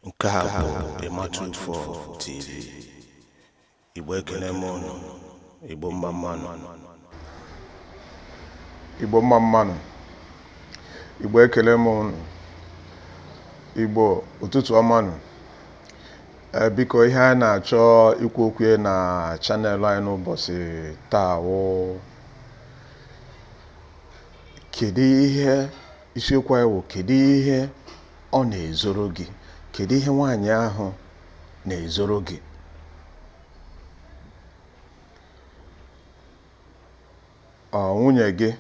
nke a bụ ịmatu 4 tv igbo ekele m unu igbo mma mmanụ igbo mma mmanụ igbo ekele m unu igbo ụtụtụ ọmanụ ee eh, biko ihe anyị na-achọ ikwu okwu ya na channel anyị n'ụbọchị taa wụ kedu ihe Isiokwu anyị wụ kedu ihe ọ na-ezoro gị? Kedu ihe nwaanyị ahụ na-ezoro gị? Ọ nwunye gị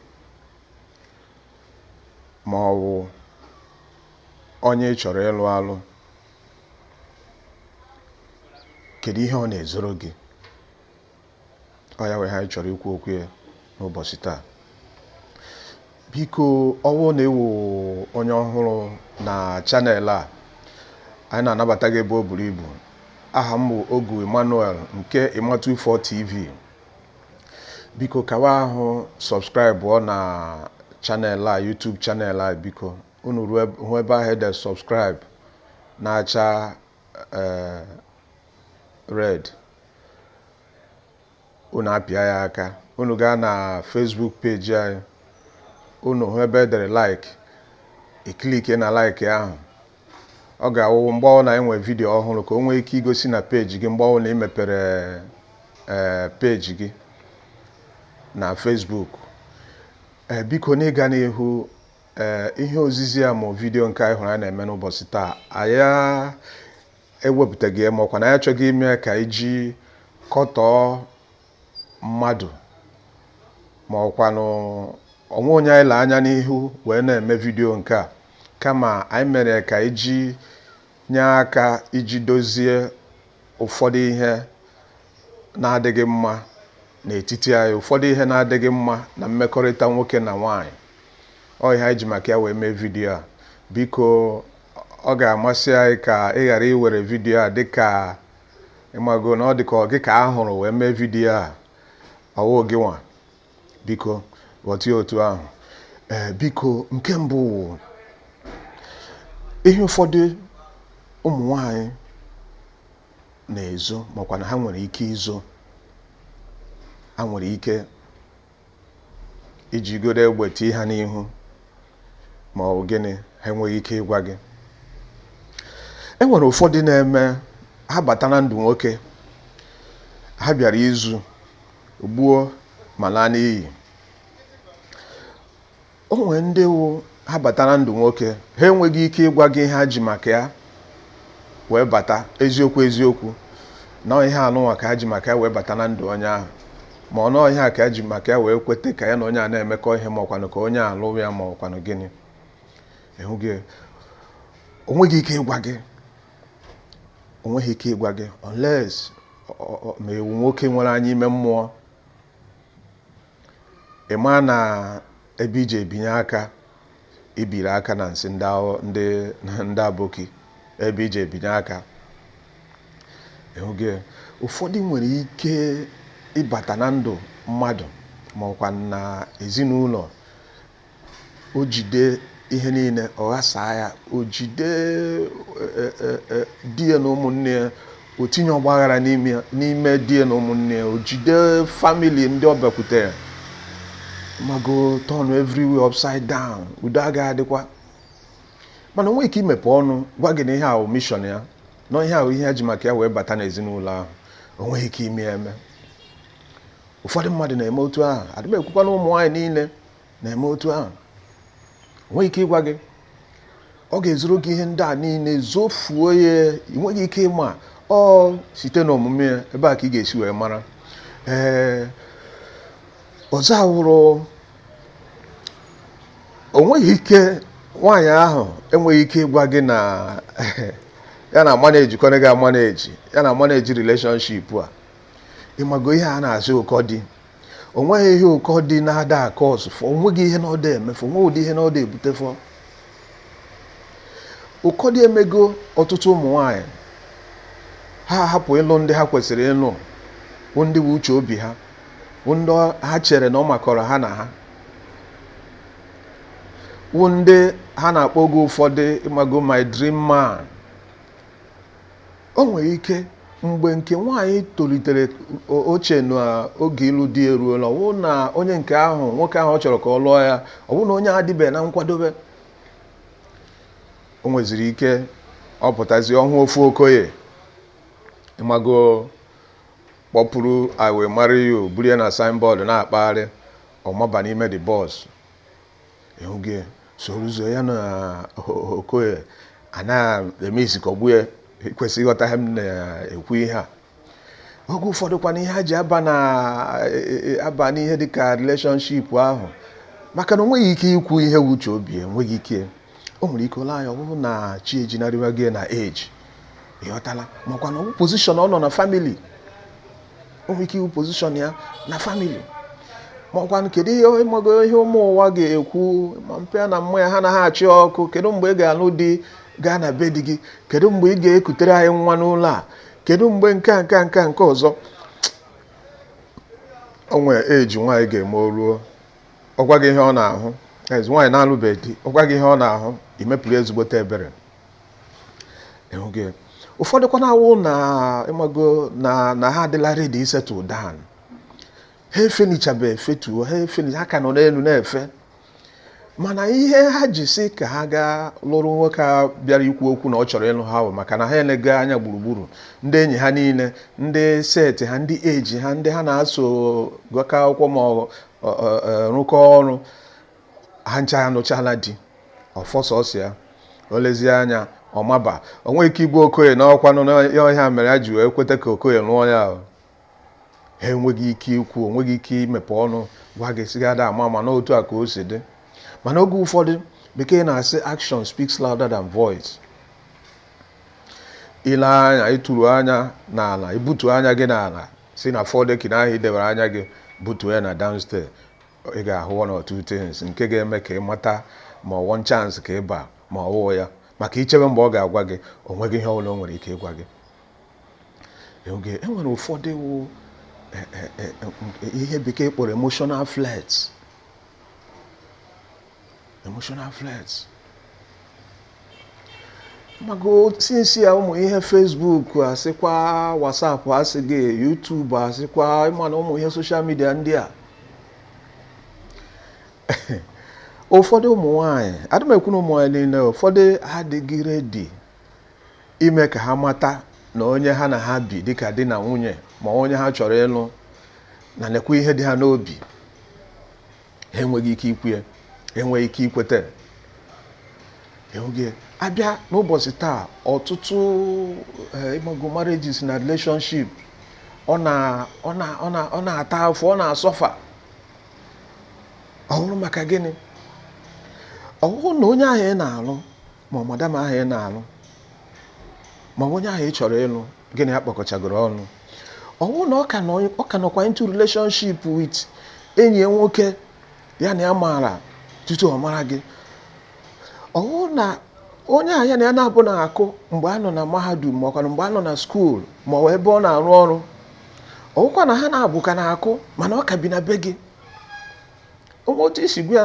ma ọ wụ onye ị chọrọ ịlụ alụ? Kedu ihe ọ na-ezoro gị? ọ ya wụ ihe anyị chọrọ ikwu okwu ya n'ụbọchị taa biko ọ wụ na ị wụ onye ọhụrụ na channel a anyị na-anabata gị ebe o buru ibu aha m bụ ogu emmanuel nke ịmatu 4 tv biko kawa ahụ subscribe ọ na channel a youtube channel a biko unu hụ ebe ahụ e de subscribe na-acha ee red unu apịa ya aka unu gaa na Facebook peji anyị unu hụ ebe e dere like ị click na like ahụ ọ ga-awụ mgbe ọbụla anyị nwere vidiyo ọhụrụ ka o nwee ike igosi na peji gị mgbe ọbụla ị mepere ee peji gị na Facebook ee biko n'ịga n'ihu ee ihe ozizi a ma vidiyo nke ị hụrụ anyị na-eme n'ụbọchị taa anyị ewepụtaghị ya ma ọ kwanụ anyị achọghị ime ka iji kọtọọ mmadụ ma ọ kwanụ o nwe onye anyị lee anya n'ihu wee na-eme vidiyo nke a kama anyị mere ya ka iji nye aka iji dozie ụfọdụ ihe na-adịghị mma n'etiti anyị ụfọdụ ihe na-adịghị mma na mmekọrịta nwoke na nwaanyị ọ ihe anyị ji maka ya wee mee vidiyo a biko ọ ga-amasị anyị ka ị ghara iwere vidiyo a dịka ị mago na ọ dịka ọ gị ka a hụrụ wee mee vidiyo a ọ wụ gị nwa biko ghọta ya otu ahụ ee biko nke mbụ wụ ihe ụfọdụ ụmụ nwanyị na-ezo ma ọ kwanụ ha nwere ike izo ha nwere ike i jigodo egbe tii ha n'ihu ma ọ bụ gịnị ha enweghị ike ịgwa gị e nwere ụfọdụ na-eme ha bata na ndụ nwoke ha bịara izu gbuo ma laa n'iyi o nwere ndị wụ ha bata na ndụ nwoke ha enweghị ike ịgwa gị ihe ha ji maka ya wee bata eziokwu eziokwu na ihe anụnwa ka ha ji maka ya wee bata na ndụ onye ahụ ma ọ na ọ ihe a ka ya ji maka ya wee kweta ka ya na onye a na-emekọ ihe ma ọkwanụ ka onye a lụrụ ya ma ọkwanụ gịnị you get o nweghị ike ịgwa gị o nweghị ike ịgwa gị unless ma ị wụ nwoke nwere anya ime mmụọ ị ma na ebe iji ebinye aka ibiri aka na nsị ndị aboki ebe iji ebinye aka you get ụfọdụ nwere ike ịbata na ndụ mmadụ ma ọkwanụ na ezinụlọ o jide ihe niile ọ ghasaa ya o jide e, e, e, di ya na ụmụnne ya o tinye ọgbaghara n'ime di ya na ụmụnne ya o jide family ndị ọ bịakwutere ịmago turn everywhere upside down udo agaghị adịkwa mana o nweghị ike imepe ọnụ gwa gị na ihe a wụ mission ya na ihe a wụ ihe ya ji maka ya wee bata n'ezinụlọ ahụ o nweghị ike ime eme ụfọdụ mmadụ na-eme otu ahụ adị m ekwukwa na ụmụ nwaanyị niile na-eme otu ahụ o nweghị ike ịgwa gị ọ ga-ezoro gị ihe ndị a niile zofuo ya ị nweghị ike ịma ọ site n'omume ya ebe a ka ị ga-esi wee mara ee ọzọ awụrụ o nweghị ike nwaanyị ahụ enweghị ike ịgwa gị na ya na-amanage kwanụ gị amanage ya na-amanage relationship a ịmago ihe a na-asị ụkọ di onweghị ihe ụkọ di na-ada acausefọ onweghị ihe na ọ da emefọ onweghị ụdị ihe na ọ da ebutefọ ụkọ di emego ọtụtụ ụmụ nwanyị ha hapụ ịlụ ndị ha kwesịrị ịlụ wụ ndị wụ uche obi ha wụ ndị ha chere na ọ makọrọ ha na ha wụ ndị ha na-akpọ oge ụfọdụ ịmago my dream man O nwere ike mgbe nke nwaanyị tolitere o chee na oge ịlụ di eruola, ọ bụrụ na onye nke ahụ nwoke ahụ ọ chọrọ ka ọ lụọ ya ọ bụrụ na onye a adịbeghị na nkwadobe o nweziri ike ọ pụtazi ọ hụ ofu okoye ịmago kpọpụrụ I will marry you buru ya na signboard na-akpagharị ọ maba n'ime the bus you get soro ụzọ ya na Okoye a na-eme isikọgbu ya kwesịrị ịghọta ihe m na-ekwu ihe a oge ụfọdụ kwanụ ihe ha ji aba n'ihe dịka relationship ahụ maka na o nweghị ike ikwu ihe wụ uche obi ya o nweghị ike o nwere ike o lee anya ọ bụrụ na chi ejinarịwago na age ịghọtala makwanụ ọ bụ position ọ nọ na family o nwere ike ịwụ position ya na family ma ọkwanụ kedu ihe ịmago ihe ụmụ ụwa ga-ekwu ma mpa na mma ya ha na ha achị ọkụ kedu mgbe ị ga-alụ di gaa na be di gị kedu mgbe ị ga-ekutere anyị nwa n'ụlọ a kedu mgbe nke a nke a nke a nke ọzọ o nwere age nwaanyị ga-eme o ruo ọ gwa gị ihe ọ na-ahụ ezi nwaanyị na-alụbeghị di ọ gwa gị ihe ọ na-ahụ i mepụrụ ezigbote ebere ịhụgo ya ụfọdụkwa na-awụ na ịmago na na ha adịla ready isettle down ha efenichabe efetuo ha efeni ha ka nọ n'elu na-efe mana ihe ha ji sị ka ha gaa lụrụ nwoke a bịara ikwu okwu na ọ chọrọ ịlụ ha bụ maka na ha enego anya gburugburu ndị enyi ha niile ndị set ha ndị age ha ndị ha na-aso gụkọ akwụkwọ ma ọ ọ- ọ- ọ- rụkọ ọrụ ha ncha anụchala di ọ fọ sọsọ ya o lezie anya ọ maba o nweghị ike ịgwa Okoye na ọkwa na ọ ya ọ ihe a mere ya ji wee kweta ka Okoye lụọ ya ahụ ha enweghị ike ikwu o nweghị ike imepe ọnụ gwa gị sị gị Adamma na otu a ka o si dị mana oge ụfọdụ bekee na-asị action speaks louder than voice i lee anya ị tụrụ anya n'ala i butu anya gị n'ala si na four decking ahụ i debere anya gị butuo ya na downstairs ị ga-ahụ one or two things nke ga-eme ka ị mata ma ọ one chance ka ị ba ma ọ wụghị ya maka i chebe mgbe ọ ga-agwa gị o nweghị ihe ọbụla o nwere ike ịgwa gị okay e nwere ụfọdụ wụ e, e, e, ihe bekee kpọrọ emotional flirts emotional flirts mago since ya ụmụ ihe Facebook a sịkwa WhatsApp a sị gị YouTube a sịkwa ịma na ụmụ ihe social media ndị a ụfọdụ ụmụ nwanyị adị m ekwu na ụmụ nwanyị niile ụfọdụ adịghị ready ime ka ha mata na onye ha na ha bi dịka di na nwunye ma onye ha chọrọ ịlụ na nekwa ihe dị ha n'obi ha enweghị ike ikwu ya enweghị ike ikweta okay a bịa n'ụbọchị taa ọtụtụ eh, ịmago marriages na relationship ọ na-ata afụfụ ọ na-asuffer ọ bụrụ maka gịnị ọ bụrụ na onye ahụ ị na-alụ ma ọ madam ahụ ị na-alụ ma onye ahụ ị chọrọ ịlụ gị na ya kpọkọchagoro ọnụ ọ bụrụ na ọ ka nọkwa into relationship with enyi ya nwoke ya na ya maara tutu ọ mara gị ọ bụrụ na onye ahụ ya na ya na-abụ na-akụ mgbe a nọ na mahadum ma ọkwanụ mgbe a nọ na school ma ọ ebe ọ na-arụ ọrụ ọ bụkwa na ha na-abụ ka na-akụ mana ọ ka bi na be gị otu i si gwa ya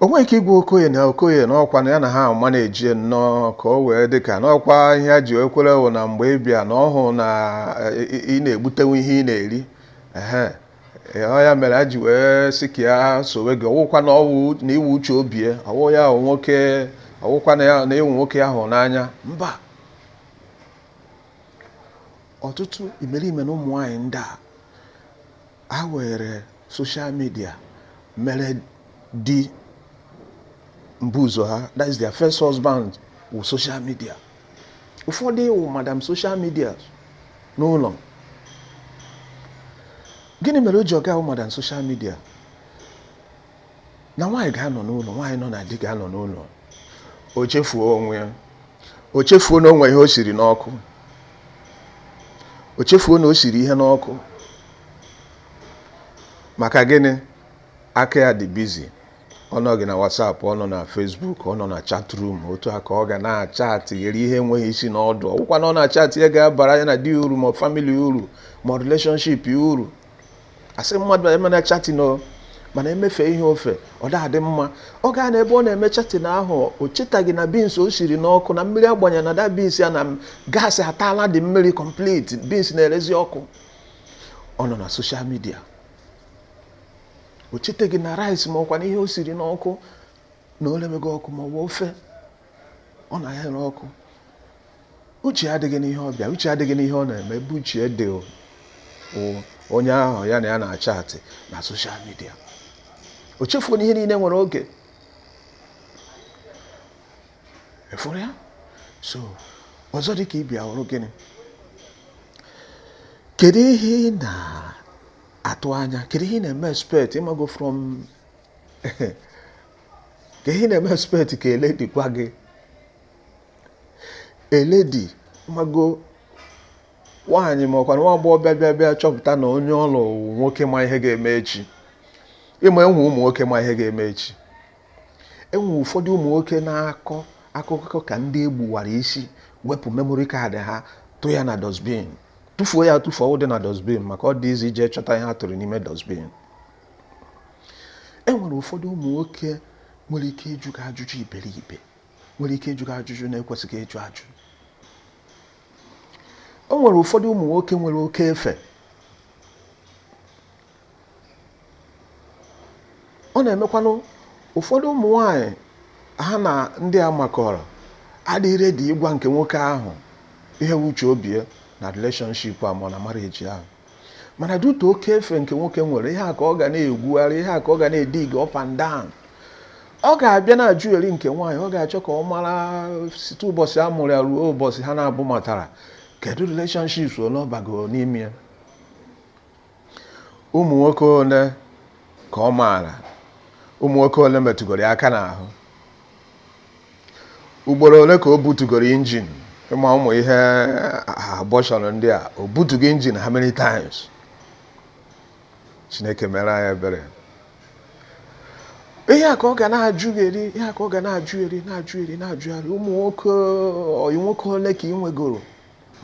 o nweghị ike ịgwa okoye na okoye na ọkwa na ya na ha ama na-eji nnọọ ka o wee dị ka n'ọkwa ihe a ji ekwere wụ na mgbe ị bịa na ọ hụ na ị na-egbutenwu ihe ị na-eri ọ ya mere a ji wee sị ka ya sowe gị ọ wụkwa na ọ wụ na ị wụ uche obi ya ọ wụ ya ahụ nwoke ọ wụkwa na ya na ị wụ nwoke ya hụrụ n'anya mba ọtụtụ imerime na ụmụ nwaanyị ndị a Ha were social media mere di mbụzọ ha that is their first husband wụ social media ụfọdụ wụ madam social media n'ụlọ gịnị mere o ji ọ ga-awụ madam social media na nwaanyị ga-anọ n'ụlọ nwaanyị nọ na di ga-anọ n'ụlọ o chefuo onwe ya o chefuo na o nwe ihe o siri n'ọkụ o chefuo na o siri ihe n'ọkụ maka gịnị aka ya dị busy ọ nọghị na WhatsApp ọ nọ na Facebook ọ nọ na chat room otu a ka ọ ga na-achatịgharị ihe enweghị isi na ọdụ ọ wụkwa na ọ na-achatị ihe ga-abara ya na di uru ma family uru ma relationship uru asị mmadụ emena chatting o mana emefe ihe ofe ọ da-adị mma ọ ga-anọ ebe ọ na-eme chatting ahụ o chetaghị na beans o siri n'ọkụ na mmiri a gbanye na the beans ya na gas ataala the mmiri complete beans na-erezi ọkụ ọ nọ na social media o chetaghị na rice ma ọkwa na ihe o siri n'ọkụ na o lemego ọkụ ma ọ bụ ofe ọ na ya ere ọkụ uche adịghị n'ihe ọ bịa uche adịghị n'ihe ọ na-eme ebe uche dị onye ahụ ya na ya na-achatị na social media o chefuo na ihe niile nwere oge efuru ya so ọzọ dị ka ibe ya wụrụ gịnị kedu ihe ị na-atụ anya kedu ihe ị na-eme expect ị mago from ke ihe ị na-eme expect ka a lady gwa gị a lady ị mago nwaanyị ma ọkwa nwa agbọghọ bịa bịa bịa chọpụta na onye ọ lụ nwoke ma ihe ga-eme echi ị ma e nwe ụmụ nwoke ma ihe ga-eme echi e nwe ụfọdụ ụmụ nwoke na-akọ akụkọ ka ndị e gbuwara isi wepụ memory card ha tụ ya na dustbin tụfuo ya tụfuo dị na dustbin maka ọ dị easy ije chọta ihe a tụrụ n'ime dustbin e nwere ụfọdụ ụmụ nwoke nwere ike ịjụ gị ajụjụ iberibe nwere ike ịjụ gị ajụjụ na-ekwesịghị ịjụ ajụ o nwere ụfọdụ ụmụ nwoke nwere oke efe ọ na-emekwanụ ụfọdụ ụmụ nwanyị ha na ndị a makọrọ adịghị ready ịgwa nke nwoke ahụ ihe wụ uche obi ya na relationship a ma na marriage a mana due to oke efe nke nwoke nwere ihe a ka ọ ga na-egwugharị ihe a ka ọ ga na-edig up and down ọ ga-abịa na-ajụgheri nke nwaanyị ọ ga-achọ ka ọ mara site ụbọchị a mụrụ ya ruo ụbọchị ha n'abụọ matara kedu relationships ole ọ bago n'ime ya ụmụ nwoke ole ka ọ maara ụmụ nwoke ole metụgoro ya aka n'ahụ ugboro ole ka o butugoro injin ị ma ụmụ ihe abortion ndị a o butugo injin how many times chineke mere anyị ebere ihe a ka ọ ga na-ajụgheri ihe a ka ọ ga na-ajụgheri na-ajụgheri na-ajụgheri ụmụ nwoke ọyị nwoke ole ka ị nwegoro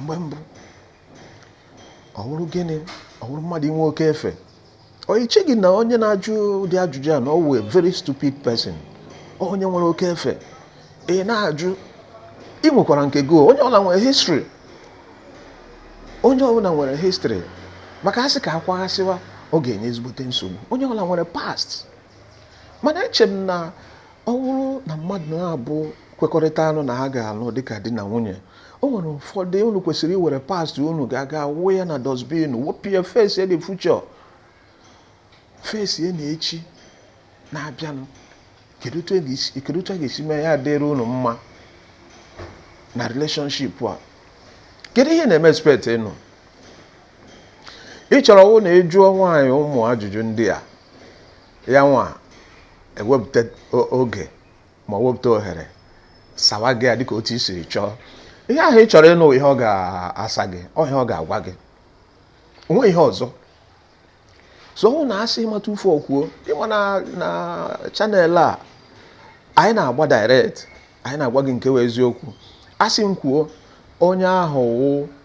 mgbe mbụ ọ wụrụ gịnị ọ wụrụ mmadụ inwe oke efe ọ i cheghị na onye na-ajụ ụdị ajụjụ a na ọ wụ a very stupid person onye nwere oke efe ị na-ajụ ị nwekwara nke gị onye ọwụla nwere history onye ọbụla nwere history maka a sị ka a kwaghasịwa ọ ga-enye ezigbote nsogbu onye ọbụla nwere past mana eche m na Ọ wụrụ na mmadụ n'abụọ kwekọrịtanụ na ha ga-alụ dịka di na nwunye o nwere ụfọdụ unu kwesịrị iwere past unu ga-aga wụọ ya na dustbin wee bịa face the future face na echi na-abịanụ kedu otu a ga-esi mee ya dịrị unu mma na relationship a kedu ihe ị na-eme expect ịnụ ị chọrọ ọ wụ na ị jụọ nwaanyị ụmụ ajụjụ ndị a ya nwa ewepụta oge ma wepụta ohere sawa gị ya dịka otu i siri chọọ ihe ahụ ị chọrọ ịnụ wụ ihe ọ ga-asa gị ọ wụ ihe ọ ga-agwa gị o nweghị ihe ọzọ so ọ wụ na asị ịmata ufe ọkwuo ị ma na na channel a anyị na-agba direct anyị na-agwa gị nke wụ eziokwu asị m kwuo onye ahụ wụ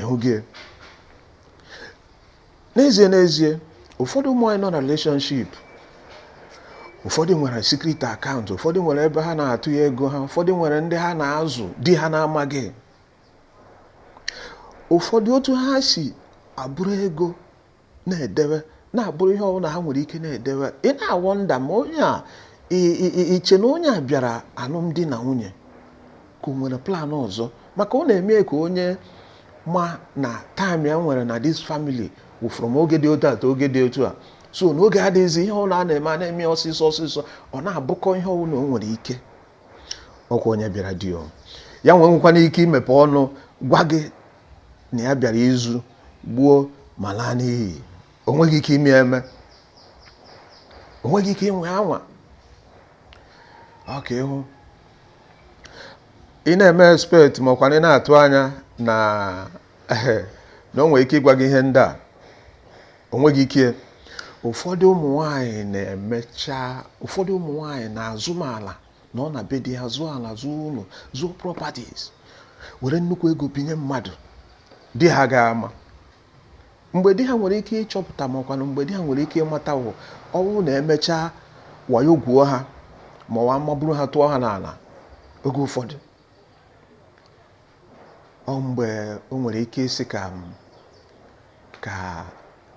ịhụghị ya. n'ezie n'ezie ụfọdụ ụmụ nwaanyị nọ na relationship ụfọdụ nwere secret account ụfọdụ nwere ebe ha na-atụnye ego ha ụfọdụ nwere ndị ha na-azụ di ha na-amaghị ụfọdụ otu ha si abụrụ ego na-edewe na-abụrụ ihe ọbụla ha nwere ike na-edewe ị na-awonder ma onye a i che na onye a bịara alụmdi na nwunye ka o nwere plan ọzọ maka ọ na-eme ka onye ma na time ya nwere na this family wụ from oge dị otu a to oge dị otu a so na oge adịghịzi ihe ọbụla a na-eme a na-eme ọsịsọ ọsịsọ ọ na-abụkọ ihe ọbụla o nwere ike ọkwa onye bịara di ya nwe nwekwana ike imepe ọnụ gwa gị na ya bịara izu gbuo ma laa n'iyi o nweghị ike ime eme o nweghị ike ịnwa anwa okay ịhụ ị na-eme expect ma ọkwanụ ị na-atụ anya na na o nwere ike ịgwa gị ihe ndị a o nweghị ike ụfọdụ ụmụ nwanyị na-emecha ụfọdụ ụmụ nwanyị na-azụma ala na ọ na be di ha zụọ ala zụọ ụlọ zụọ properties were nnukwu ego binye mmadụ di ha ga-ama mgbe di ha nwere ike ịchọpụta ma ọkwanụ mgbe di ha nwere ike ịmata wụ ọ wụ na emechaa wayo gwuo ha ma ọ wa maburu ha tụọ ha n'ala oge ụfọdụ ọ mgbe o nwere ike ịsị ka ka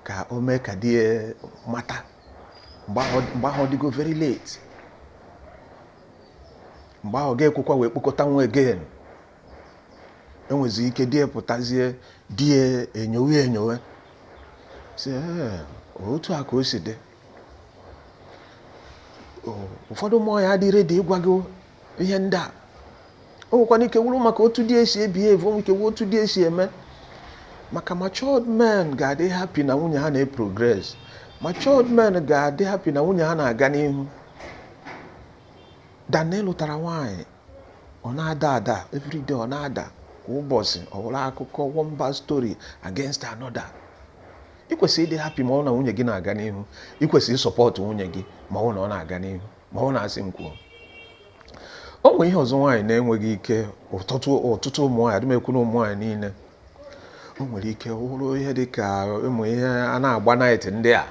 ka o mee ka di ya mata mgbe ahụ mgbe ahụ ọ dịgo very late mgbe ahụ ga-ekwekwa wee kpokọta onwe again o nwezi ike di ya pụtazie di ya enyowe enyowe sị "Ee, otu a ka o si dị O, ụfọdụ ụmụ nwaanyị adị ready ịgwa gị ihe ndị a o nwekwana ike wụrụ maka otu di esi ebihave o nwere ike wụ otu di esi eme maka matured men ga-adị happy na nwunye ha na-eprogress matured men ga-adị happy na nwunye ha na-aga n'ihu than na ị lụtara nwaanyị ọ na-ada ada everyday ọ na-ada kwa ụbọchị ọ wụrụ akụkọ one bad story against another ị kwesịrị ịdị happy ma ọ na nwunye gị na-aga n'ihu ị kwesịrị isupport nwunye gị ma ọ na ọ na-aga n'ihu ma ọ na a sị m kwuo o nwere ihe ọzọ nwaanyị na-enweghị ike ọtụtụ ọtụtụ ụmụ nwaanyị adị m ekwu na ụmụ nwaanyị niile o nwere ike wụrụ ihe dị ka ụmụ ihe a na-agba night ndị a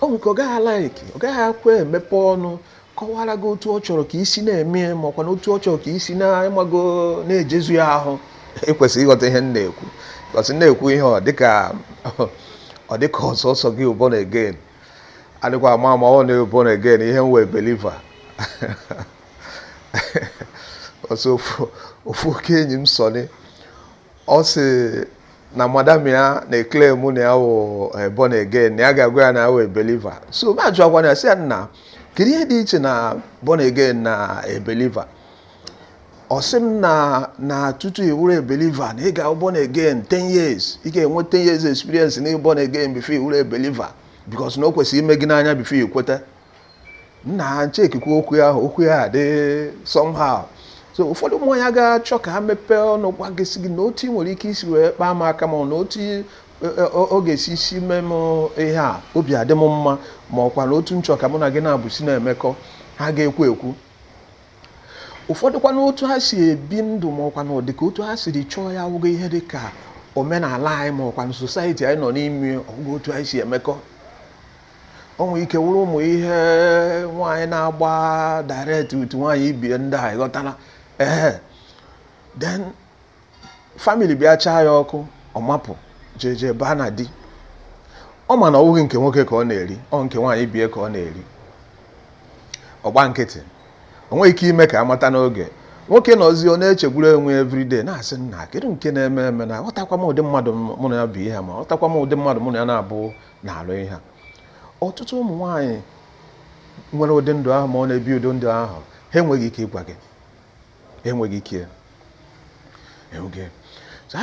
o nwere ike ọ gaghị alike ọ gaghịkwa emepe ọnụ kọwara gị otu ọ chọrọ ka i si na-eme ya ma ọkwanụ otu ọ chọrọ ka i si na ị mago na-ejezu ya ahụ i kwesịrị ịghọta ihe m na-ekwu because m na-ekwu ihe ọ dịka ọ dịka ọ sọsọ gị wụ born again adịkwa ama ama ọ na born again ihe m wụ a believer ọ sọ ofu oke enyi m Sunny ọ sị na madam ya na-eclaim na ya wụ eh, born again na ya ga-agwa ya na ya wụ a believer so m ajụọkwana ya sị ya nna kedu ihe dị iche na born again na a believer eh, ọ sị m na na tutu ị wụrụ ebeliva na ị ga-abụ born again 10 years ị ga-enwe 10 years experience na born again before ị wụrụ ebeliva because na o kwesịrị ime gị n'anya before ị kweta nna chekikwa okwu ya okwu ya dị somehow so ụfọdụ ụmụ nwaanyị ga-achọ ka ha mepee ọnụ gwa gị sị gị na otu ị nwere ike isi wee kpaa m aka ma na otu e, e, ọ ga-esi isi mee m ihe a obi adị m mma ma ọkwanụ otu m chọ ka mụ na gị na-abụsi na-emekọ ha ga-ekwu ekwu ụfọdụkwa n'otu ha si ebi ndụ ma ọkwa na ọ dị ka otu ha siri chọọ ya awụghị ihe dị ka omenala anyị ma ọkwa na society anyị nọ n'ime ọ wụghị otu anyị si emekọ o nwere ike wụrụ ụmụ ihe nwaanyị na-agba direct to nwaanyị ibie ndị a ịghọtala ee then family bịa chaa ya ọkụ ọ mapụ jee jee baa na di ọ ma na ọ bụghị nke nwoke ka ọ na-eri ọ nke nwaanyị ibie ka ọ na-eri ọ gba nkịtị o nweghị ike ime ka a mata n'oge nwoke nọzi ọ na-echegburu onwe everyday na-asị nna kedu nke na-eme eme na aghọtakwa m ụdị mmadụ mụ na ya bụ ihe ma aghọtakwa m ụdị mmadụ mụ na ya na-abụ na-alụ ihe ọtụtụ ụmụ nwaanyị nwere ụdị ndụ ahụ ma ọ na-ebi ụdị ndụ ahụ ha enweghị ike ịgwa gị enweghị ike so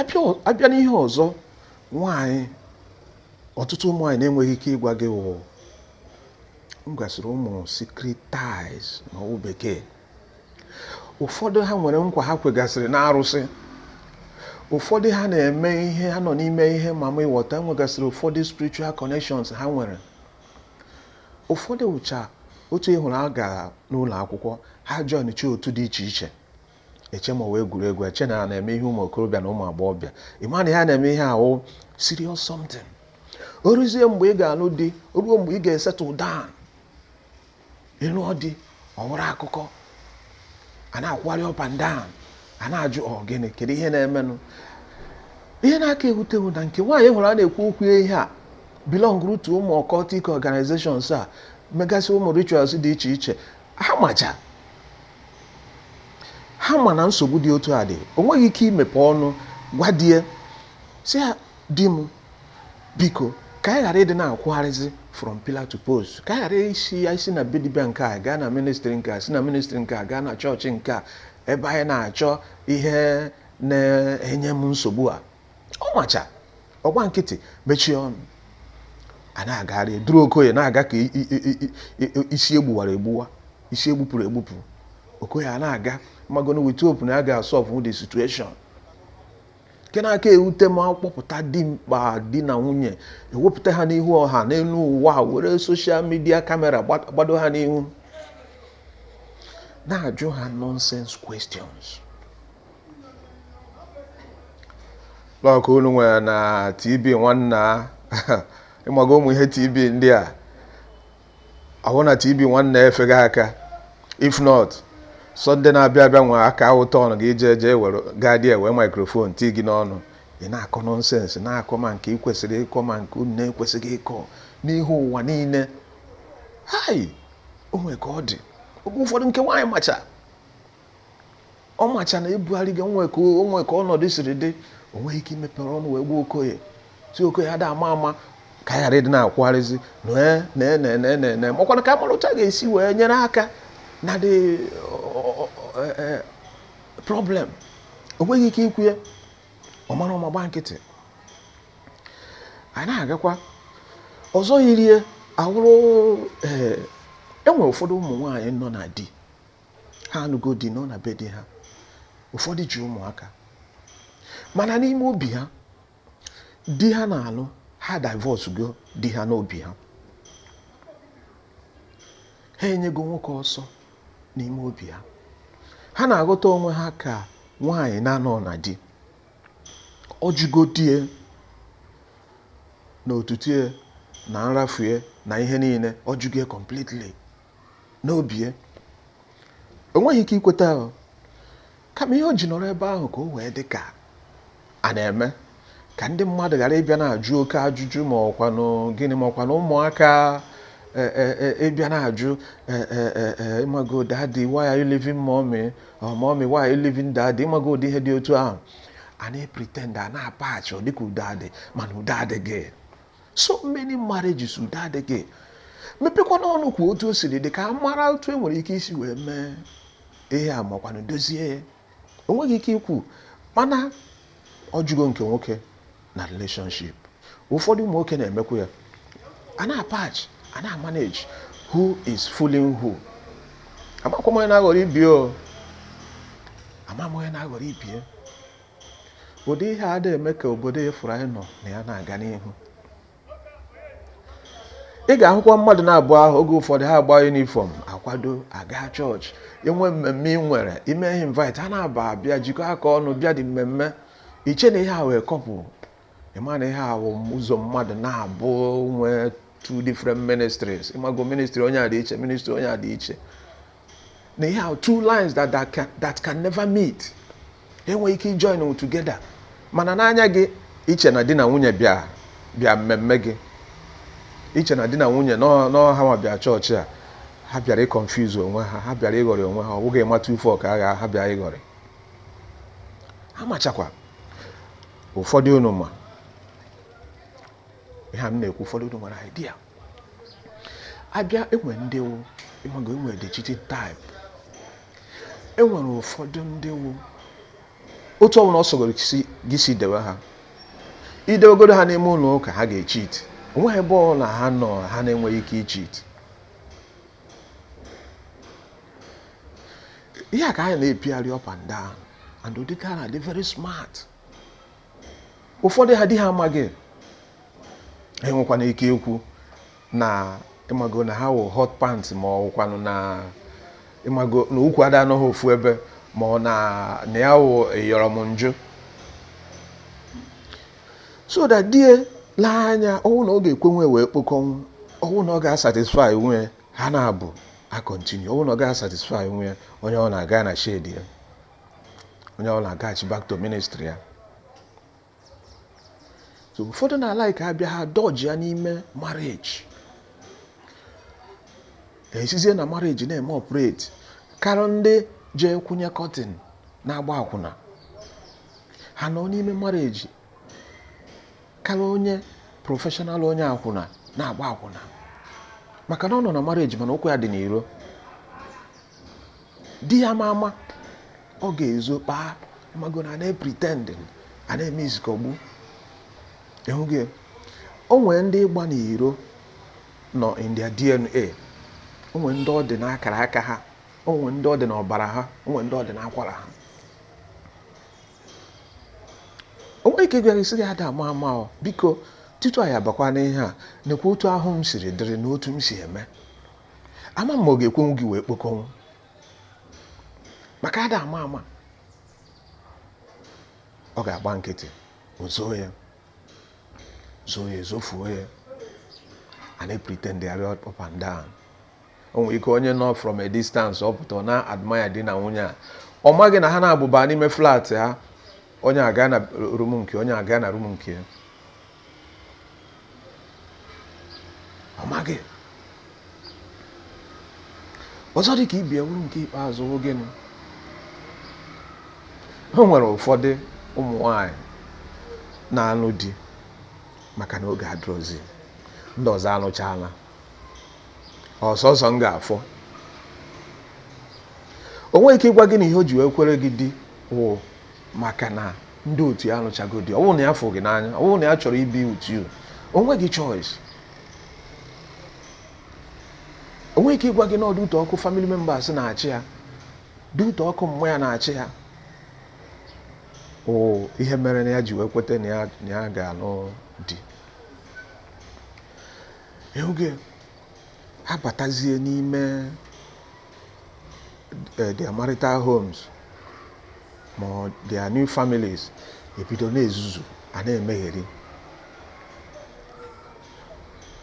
a bịa n'ihe ọzọ nwaanyị ọtụtụ ụmụ nwaanyị na-enweghị ike ịgwa gị wụgasịrị ụmụ secret ties n'okwu bekee ụfọdụ ha nwere nkwa ha kwegasịrị n'arụsị ụfọdụ ha na-eme ihe ha nọ n'ime ihe ma ma ịghọta nwegasịrị ụfọdụ spiritual connections ha nwere Ụfọdụ wụcha otu ị hụrụ a gara n'ụlọ akwụkwọ, ha joinichaa otu dị iche iche. Eche ma ọ wụ egwuregwu, eche na ha na-eme ihe ụmụ okorobịa na ụmụ agbọghọbịa. Ị ma na ihe a na-eme ihe a wụ serious something. O ruzie mgbe ị ga-alụ di, o ruo mgbe ị ga-esettle down, ị lụọ di, ọ wụrụ akụkọ a na-akwụgharị up and down a na-ajụ ọ gịnị kedu ihe na-emenụ ihe na-aka ewute wụ na nke nwaanyị ị hụrụ a na-ekwu okwu ihe a belongụrụ to ụmụ occultic organizations a megasị ụmụ rituals dị iche iche ha macha ha ma na nsogbu dị otu a dị o nweghị ike imepe ọnụ gwa die sị ya di m biko ka anyị ghara ịdị na-akwụgharịzi from pillar to post ka anyị ghara isi isi na be dibịa nke a gaa na ministry nke a si na ministry nke a gaa na chọọchị nke a ebe anyị na-achọ ihe na-enye m nsogbu a ọ macha ọ gba nkịtị mechie ọnụ a na-agagharị duru okoye na-aga ka isi e gbuwara egbuwa isi e gbupụrụ egbupụ okoye a na-aga magonu with hope na ya ga-asolve the situation nke na-aka ewute m a kpọpụta dimkpa di na nwunye e wepụta ha n'ihu ọha n'elu ụwa were social media camera gbado ha n'ihu na-ajụ ha nonsense questions like unu nwere na tv nwanna ị maga ụmụ ihe tv ndị a a hụ na tv nwanna efega aka if not sunday na-abịa abịa nwe aka ụtọ ọnụ gị ije eje were ga-adị ewe microphone tii gị n'ọnụ ị na-akọ nonsense na-akọ ma nke ị kwesịrị ịkọ ma nke unu na-ekwesịghị ịkọ n'ihu ụwa niile hai o nwere ka ọ dị oge ụfọdụ nke nwaanyị macha ọ macha na ebughari gị o nwe ka o nwe ka ọnọdụ siri dị o nweghị ike imepere ọnụ wee gwa okoye si okoye ada ama ama ka a ghara ịdị na-akwụgharịzi na makwana ka a mara otu a ga-esi wee nyere aka na the problem o nweghị ike ikwu ya ọ mara ọma gba nkịtị anyị na-agakwa ọzọ yirie awụrụ e nwere ụfọdụ ụmụ nwaanyị nọ na di ha anụgo di nọ na be di ha ụfọdụ ji ụmụaka mana n'ime obi ha di ha na-anụ ha divorcego di ha n'obi ha ha enyego nwoke ọsọ n'ime obi ha ha na-aghọta onwe ha ka nwaanyị na-anọ na di ọ jụgo di e na otutue na nrafue na ihe niile ọ jụgo ya completely n'obi ya o nweghị ike ikweta ahụ kama ihe o ji nọrọ ebe ahụ ka o wee dị ka a na-eme ka ndị mmadụ ghara ịbịa na-ajụ oke ajụjụ ma ọkwanụ gịnị ma ọkwanụ ụmụaka e, e, e, ịbịa na-ajụ ịmago daddy why are you leaving mommy or mommy why are you leaving daddy ịmago ụdị ihe dị otu ahụ a na-epretend a na-apatch ọ dịka udo adị mana udo adịghị so many marriages udo adịghị mepekwanụ ọnụ kwuo otu o siri dị ka a mara otu e nwere ike isi wee mee ihe a makwanụ dozie ya o nweghị ike ikwu mana ọ jụgo nke nwoke na relationship ụfọdụ ụmụ nwoke na-emekwa ya a na-apatch a na-amanage who is fooling who amakwa onye na-aghọrọ ibie o amakwa onye na-aghọrọ ibie ụdị ihe a na-eme ka obodo ị fụrụ anyị nọ na ya na-aga n'ihu ị ga-ahụkwa mmadụ naabọ ahụ oge ụfọdụ ha agba uniform akwado aga chọọchị e nwee mmemme ị nwere ime ihe invite ha naabọ abịa jikọ aka ọnụ bịa the mmemme i chee na ihe a wụ couple ịma na ihe a wụ ụzọ mmadụ naabọ nwee two different ministries ịmago ministry onye a dị iche ministry onye a dị iche na ihe a wụ two lines that, that, can, that can never meet e nweghị ike join together mana n'anya gị i chee na di na nwunye bịa bịa mmemme gị i chee na di na nwunye n'ọha ma bịa chọọchị a ha bịara ịconfuse onwe ha ha bịara ịghọrị onwe ha ọ bụghị ịmata ufe ọka agha ha bịara ịghọrị ha machakwa ụfọdụ unu ma ihe a m na-ekwu ụfọdụ unu nwere idea abịa enwe ndị wụ ịmago enwe the cheating type enwere ụfọdụ ndị wụ otu ọbụla ọ sọgoro gị si dewe ha idewegodu ha n'ime ụlọ ụka ha ga-echit onweghị ebe ọbụla ha nọ ha na-enweghị ike ichit ihe a ka anyị na-epigharị up and down and ụdị nke a na-adị very smart ụfọdụ ha di ha amaghị enwekwana ike ikwu na ịmago na ha wụ hot pant ma ọ wụkwanụ na ịmago na ụkwụ ada anọ ha ofu ebe ma ọ na na ya wụ ịyọrọ m njụ so that di ya lee anya ọ wụ na ọ ga-ekwenwu ya wee kpokọnwụ ọ wụ na ọ ga-asatisfai nwu ya ha naabọ a continue ọ bụrụ na ọ gaghị satisfy nwu ya onye ọ na-aga na shade ya onye ọ na-agaghachi back to ministry ya so ụfọdụ na-alike abịa ha dodge ya n'ime marriage esizie na marriage na-eme operate karịa ndị jee kwụnye curtain na-agba akwụna ha nọ n'ime marriage karịa onye professional onye akwụna na-agba akwụna maka na ọ nọ na marriage mana ụkwụ ya dị n'iro di ya ama ama ọ ga-ezo kpaa ịmago na na-epritendị a na-eme izikọgbu ịhụghị o nwere ndị ịgba n'iro nọ in their DNA o nwere ndị ọ dị n'akara aka ha o nwere ndị ọ dị n'ọbara ha o nwere ndị ọ dị n'akwara ha o nwere ike ịgwa gị sị gị ada ama ama o biko tutu anyị abakwa n'ihe a nekwa otu ahụ m siri dịrị na otu m si eme ama m ma ọ ga-ekwenwu gị wee kpokọnwụ maka ada ama ama ọ ga-agba nkịtị o zoo ya zoo ya ezofuo ya a na-epritendịgharị up and down o nwere ike onye nọ from a distance ọ pụta na-admire di na nwunye a ọ maghị na ha naabọ baa n'ime flat ha onye aga na room nke ya onye aga na room nke ya ọ maghị ọzọ dị ka ibe ya wụrụ nke ikpeazụ gịnị o nwere ụfọdụ ụmụ nwanyị na-alụ di maka na oge adịrọzi ndị ọzọ alụchaala ọ sọsọ m ga-afọ o nweghị ike ịgwa gị na ihe o ji wee kwere gị di wụ maka na ndị otu ya alụchago di ọ bụrọ na ya fụ gị n'anya ọ bụrọ na ya chọrọ ibi with you o nweghị choice o nweghị ike ịgwa gị na ọ due to ọkụ family members na-achị ya due to ọkụ mmụọ ya na-achị ya ọ ihe mere na ya ji wee kweta na ya na ya ga-alụ di ị hụgo ha batazie n'ime eh, their marital homes ma ọ their new families ebido na-ezuzu a na-emegheri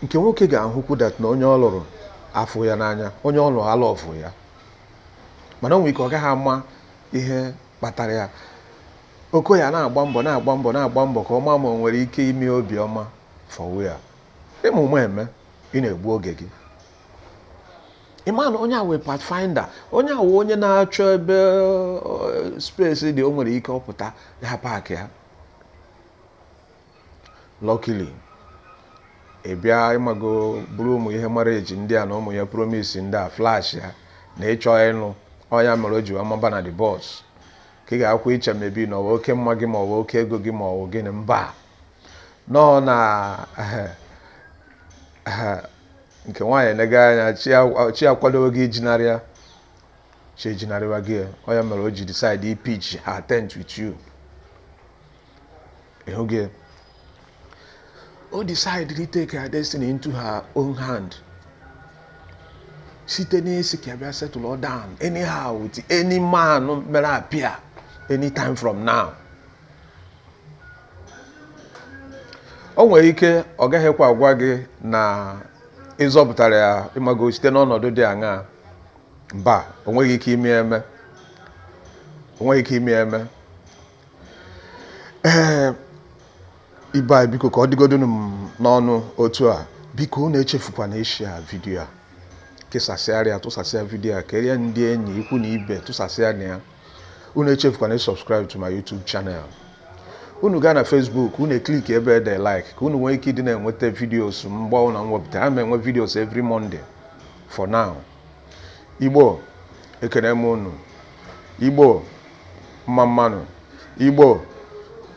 nke nwoke ga-ahụkwu that na onye ọ lụrụ afụ ya n'anya onye ọ lụrụ a love ya mana o nwere ike ọ gaghị ama ihe kpatara ya okoya na-agba mbọ na-agba mbọ na-agba mbọ ka ọ maa ma o nwere ike ime obiọma fọwu ya ị ma ụma eme ị na-egbu oge gị ị ma na onye a wụ pathfinder onye a wụ onye na-achọ ebe space dị o nwere ike ọ pụta ya paakị ya Luckily, ị bịa ịmago buru ụmụ ihe marriage ndị a na ụmụ ihe promise ndị a flash ya na ị chọ ịnụ ọ ya mere o ji wee maba na the bus ka ị ga-akwụ iche maybe na ọ wụ oke mma gị ma ọ wụ oke ego gị ma ọ wụ gịnị mba no ọ na nke nwaanyị elega anya chi akwadowego ijinarị ya chi ejinarịwago ọ ya mere o ji decide ịpitch her tent with you ị hụgo o decide to take her destiny into her own hand site n'ịsị ka bịa settle down anyhow with any man mere appear anytime from now o nwere ike ọ gaghịkwa agwa gị na ị zọpụtara ya ịmago site n'ọnọdụ dị aṅaa mba o nweghị ike ime eme o nweghị ike ime eme ee ibe anyị biko ka ọ dịgodunu m n'ọnụ otu a biko unu echefukwana ịshare vidiyo a kesasịara ya tụsasịa vidiyo a kerie ndị enyi ikwu na ibe tụsasịa na ya unu echefukwana subscribe to my YouTube channel unu gaa na Facebook unu e click ebe e de like ka unu nwee ike ịdị na-enweta videos mgbe ọbụla m wepụta a na-enwe videos every Monday for now Igbo ekene m unu Igbo mma mma nụ Igbo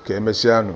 ka emesịanụ